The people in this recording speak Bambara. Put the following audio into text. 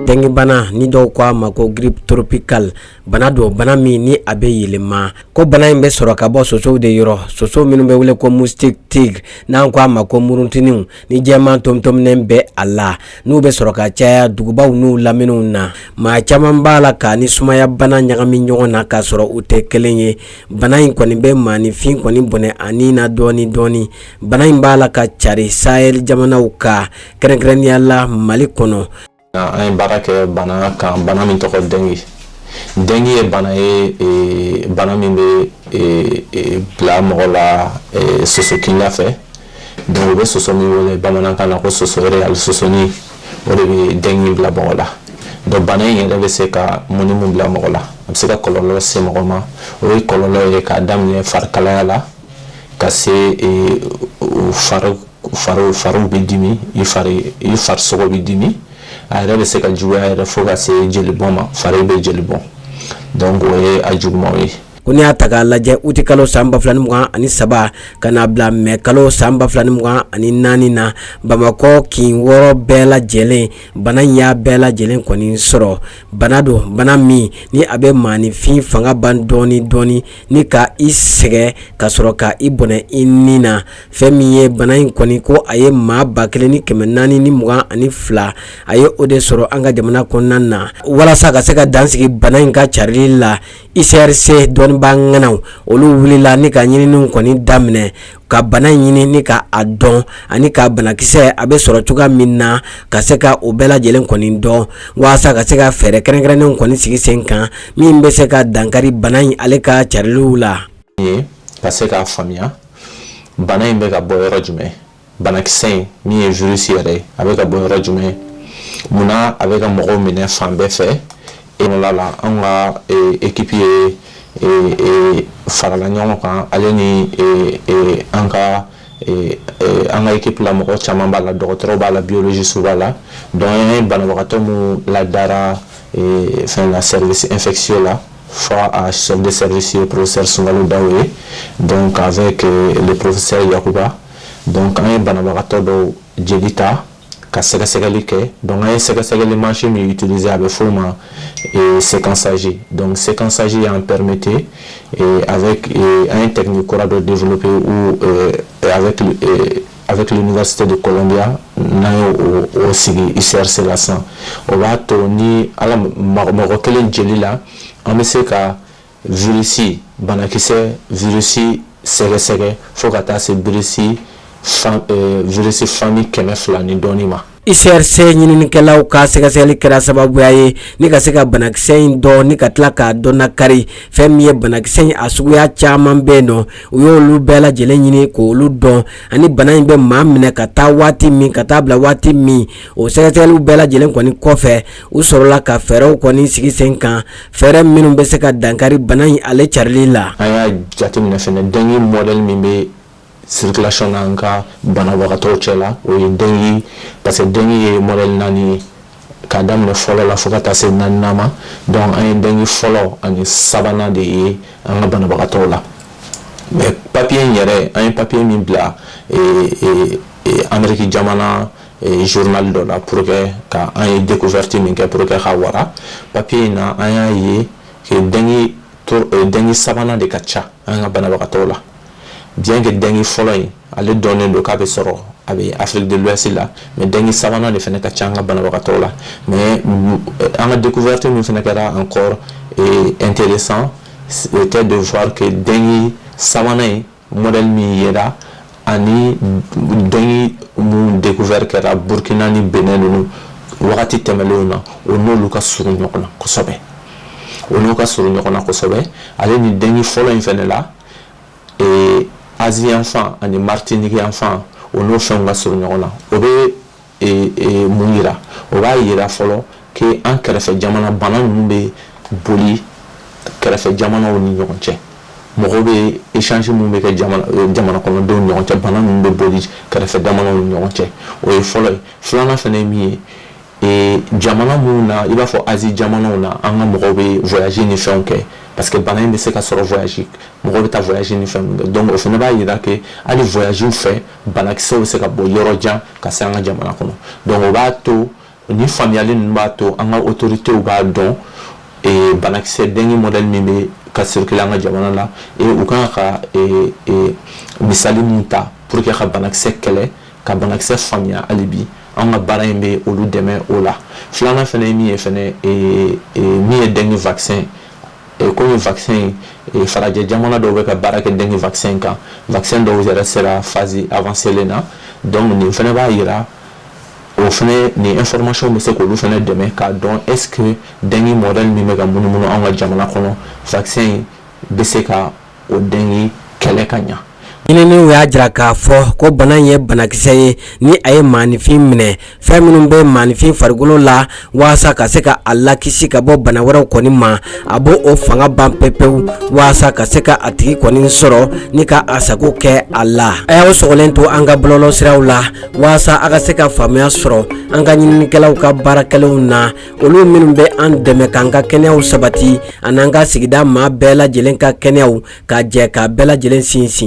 Dengue bana ni dɔw k'a ma ko grippe tropicale bana don bana min ni a bɛ yɛlɛma ko bana in bɛ sɔrɔ ka bɔ sosow de yɔrɔ soso minnu bɛ wele ko moustique tigre n'an k'a ma ko murutuninw ni jɛman tomitominen bɛ a la n'u bɛ sɔrɔ ka caya dugubaw n'u laminiw na maa caman b'a la k'a ni sumayabana ɲagami ɲɔgɔn na k'a sɔrɔ u tɛ kelen ye bana in kɔni bɛ maaninfin kɔni bɔnɛ a ni na dɔɔnin dɔɔnin bana in b'a la ka cari Sahel jamanaw ka kɛrɛnkɛrɛnnenya la mali kɔnɔ an ye baara kɛ bana kan bana min tɔgɔ dengue dengue ye bana ye bana min bɛ bila mɔgɔ la soso kinda fɛ donc u bɛ soso min wele bamanankan na ko soso wɛrɛ ali sosonin o de bɛ dengue bila mɔgɔ la donc bana in yɛrɛ bɛ se ka mun ni mun bila mɔgɔ la a bɛ se ka kɔlɔlɔ se mɔgɔ ma o ye kɔlɔlɔ ye k'a daminɛ farikalaya la ka se e, fariw bɛ dimi i farisogo bɛ dimi a yɛrɛ bɛ se ka juguya yɛrɛ fo ka se jelibɔn ma fari bɛ jeli bɔn donc o ye a jugumanw ye ko n'i y'a ta k'a lajɛ uti kalo san ba fila ni mugan ani saba ka n'a bila mɛ kalo san ba fila ni mugan ani naani na bamakɔ kin wɔɔrɔ bɛɛ lajɛlen bana in y'a bɛɛ lajɛlen kɔni sɔrɔ bana don bana min ni a bɛ maaninfin fanga ban dɔɔni dɔɔni ni ka i sɛgɛn ka sɔrɔ ka i bɔnɛ i ni na fɛn min ye bana in kɔni ko a ye maa ba kelen ni kɛmɛ naani ni mugan ani fila a ye o de sɔrɔ an ka jamana kɔnɔna na walasa ka se ka dansigi bana in ka carili la UCRC dɔnnibaa ŋanaw olu wulila ni ka ɲininiw kɔni daminɛ ka bana in ɲini ni ka a dɔn ani ka banakisɛ a bɛ sɔrɔ cogoya min na ka se ka o bɛɛ lajɛlen kɔni dɔn walasa ka se ka fɛɛrɛ kɛrɛnkɛrɛnnenw kɔni sigi sen kan min bɛ se ka dankari bana in ale ka cariliw la ka se k'a faamuya bana in bɛ ka bɔ yɔrɔ jumɛn banakisɛ in min ye virus yɛrɛ ye a bɛ ka bɔ yɔrɔ jumɛn munna a bɛ ka mɔgɔw minɛ fan bɛɛ fɛ ekɔla la anw ka ekipi ye farala ɲɔgɔn kan ale ni an ka an ka ekipi la mɔgɔ caman b'a la dɔgɔtɔrɔ b'a la biologistew b'a la donc an ye banabagatɔ minnu ladara fɛn la service infectieux la fo a chef de service professeur sungalo daw ye donc avec professeur yakuba dɔn an ye banabagatɔ dɔw jeli ta ka sɛgɛsɛgɛli kɛ dɔn ye sɛgɛsɛgɛli mansin min tuluse a bɛ f'o ma sesansaaji dɔn sesansaaji y'an pɛremete an ye tɛmɛ kura dɔ denp pe a bɛ kilufasite de kɔlɔnbiya n'a y o sigi isɛrisela san o b'a to ni mɔgɔ kelen jeli la an bɛ se ka virisi banakisɛ virisi sɛgɛsɛgɛ fo ka taa se virisi virisi famille kɛmɛ fila ni dɔɔnin ma UCRC ɲininikɛlaw ka sɛgɛsɛgɛli kɛra sababuya ye ni ka se ka banakisɛ in dɔn ni ka tila k'a dɔn na kari fɛn min ye banakisɛ in a suguya caman bɛ yen nɔ u y' olu bɛɛ lajɛlen ɲini k' olu dɔn ani bana in bɛ maa minɛ ka taa waati min ka taa bila waati min o sɛgɛsɛgɛliw bɛɛ lajɛlen kɔni kɔfɛ u sɔrɔla ka fɛɛrɛw kɔni sigi sen kan fɛɛrɛ minnu bɛ se ka dankari bana in ale carili la an y'a jateminɛ fana dengue modèle min bɛ circulation na an ka banabagatɔw cɛla o ye dengue parce que dengue ye modèle naani ye k'a daminɛ fɔlɔ la fo ka taa se naaninan ma donc an ye dengue fɔlɔ ani sabanan de ye an ka banabagatɔw la mais papier in yɛrɛ an ye papier min bila ee ee Ameriki jamana journal dɔ la pour que ka an ye découverte min kɛ pour que ka wara papier in na an y'a ye dengue sabanan de ka ca an ka banabagatɔw la bien que dengue fɔlɔ in ale dɔnnen don k'a bɛ sɔrɔ a bɛ Afrique de l'Ouest la mais dengue sabanan de fana ka ca an ka banabagatɔ la mɛ an ka deko vte min fana kɛra encore intéressant était de voir que dengue sabanan in mɔdali min ye ani dɔn minnu deko wɛrɛri kɛra burukina ni bɛnnen ninnu wagati tɛmɛnlen na o n'olu ka s ɲɔgɔn kosɛbɛ o n'u ka s ɲɔgɔn na kosɛbɛ ale ni den fɔlɔ in fana la azfan ani mari tɛ nɛgɛge anfan o n'o fɛn ka s ɲɔgɔn na o bɛ mun jira o b'a jira fɔlɔ que an kɛrɛfɛ jamana bana ninnu bɛ boli kɛrɛfɛ jamanaw ni ɲɔgɔn cɛ mɔgɔw bɛ échange minnu bɛ kɛ jamana kɔnɔdenw ni ɲɔgɔn cɛ bana ninnu bɛ boli kɛrɛfɛ jamanaw ni ɲɔgɔn cɛ o ye fɔlɔ ye filanan fana ye min ye jamana minnu na i b'a fɔ Asie jamanaw na an ka mɔgɔw bɛ voyage ni fɛnw kɛ parce que bana in bɛ se ka sɔrɔ voyage mɔgɔw bɛ taa voyage ni fɛnw kɛ donc o fana b'a jira que hali voyage fɛ banakisɛw bɛ se ka bɔ yɔrɔ jan ka se an ka jamana kɔnɔ donc o b'a to ni faamuyali ninnu b'a to an ka autorités b'a dɔn banakisɛ dengue modèle min bɛ ka circuler an ka jamana na u kan ka misali min ta pour que ka banakisɛ kɛlɛ ka banakisɛ faamuya hali bi an ka baara in bɛ olu dɛmɛ o la filanan fana ye min ye fana min ye dengue vaccin komi vaccin farajɛ jamana dɔw bɛ ka baara kɛ dengue vaccin kan vaccin dɔw yɛrɛ sera phase avancée na donc nin fana b'a jira o fana nin information bɛ se k'olu fana dɛmɛ k'a dɔn est ce que dengue modèle min bɛ ka munumunu an ka jamana kɔnɔ vaccin bɛ se ka o dengue kɛlɛ ka ɲa ɲininiw y'a jira k'a fɔ ko bana ye banakisɛ ye ni a ye maanifin minɛ fɛn minnu bɛ maanifin farikolo la walasa ka se ka a lakisi ka bɔ bana wɛrɛw kɔni ma a b' o fanga ban pepewu walasa ka se ka a tigi kɔni sɔrɔ ni ka a sago kɛ a la a y'aw sɔgɔlen to an ka bɔlɔlɔsiraw la waasa a ka se ka faamuya sɔrɔ an ka ɲininikɛlaw ka baara kɛlenw na olu minnu bɛ an dɛmɛ k'an ka kɛnɛyaw sabati an'an ka sigida maa bɛɛ lajɛlen ka kɛnɛyaw ka jɛ k'a bɛɛ lajɛlen sinsin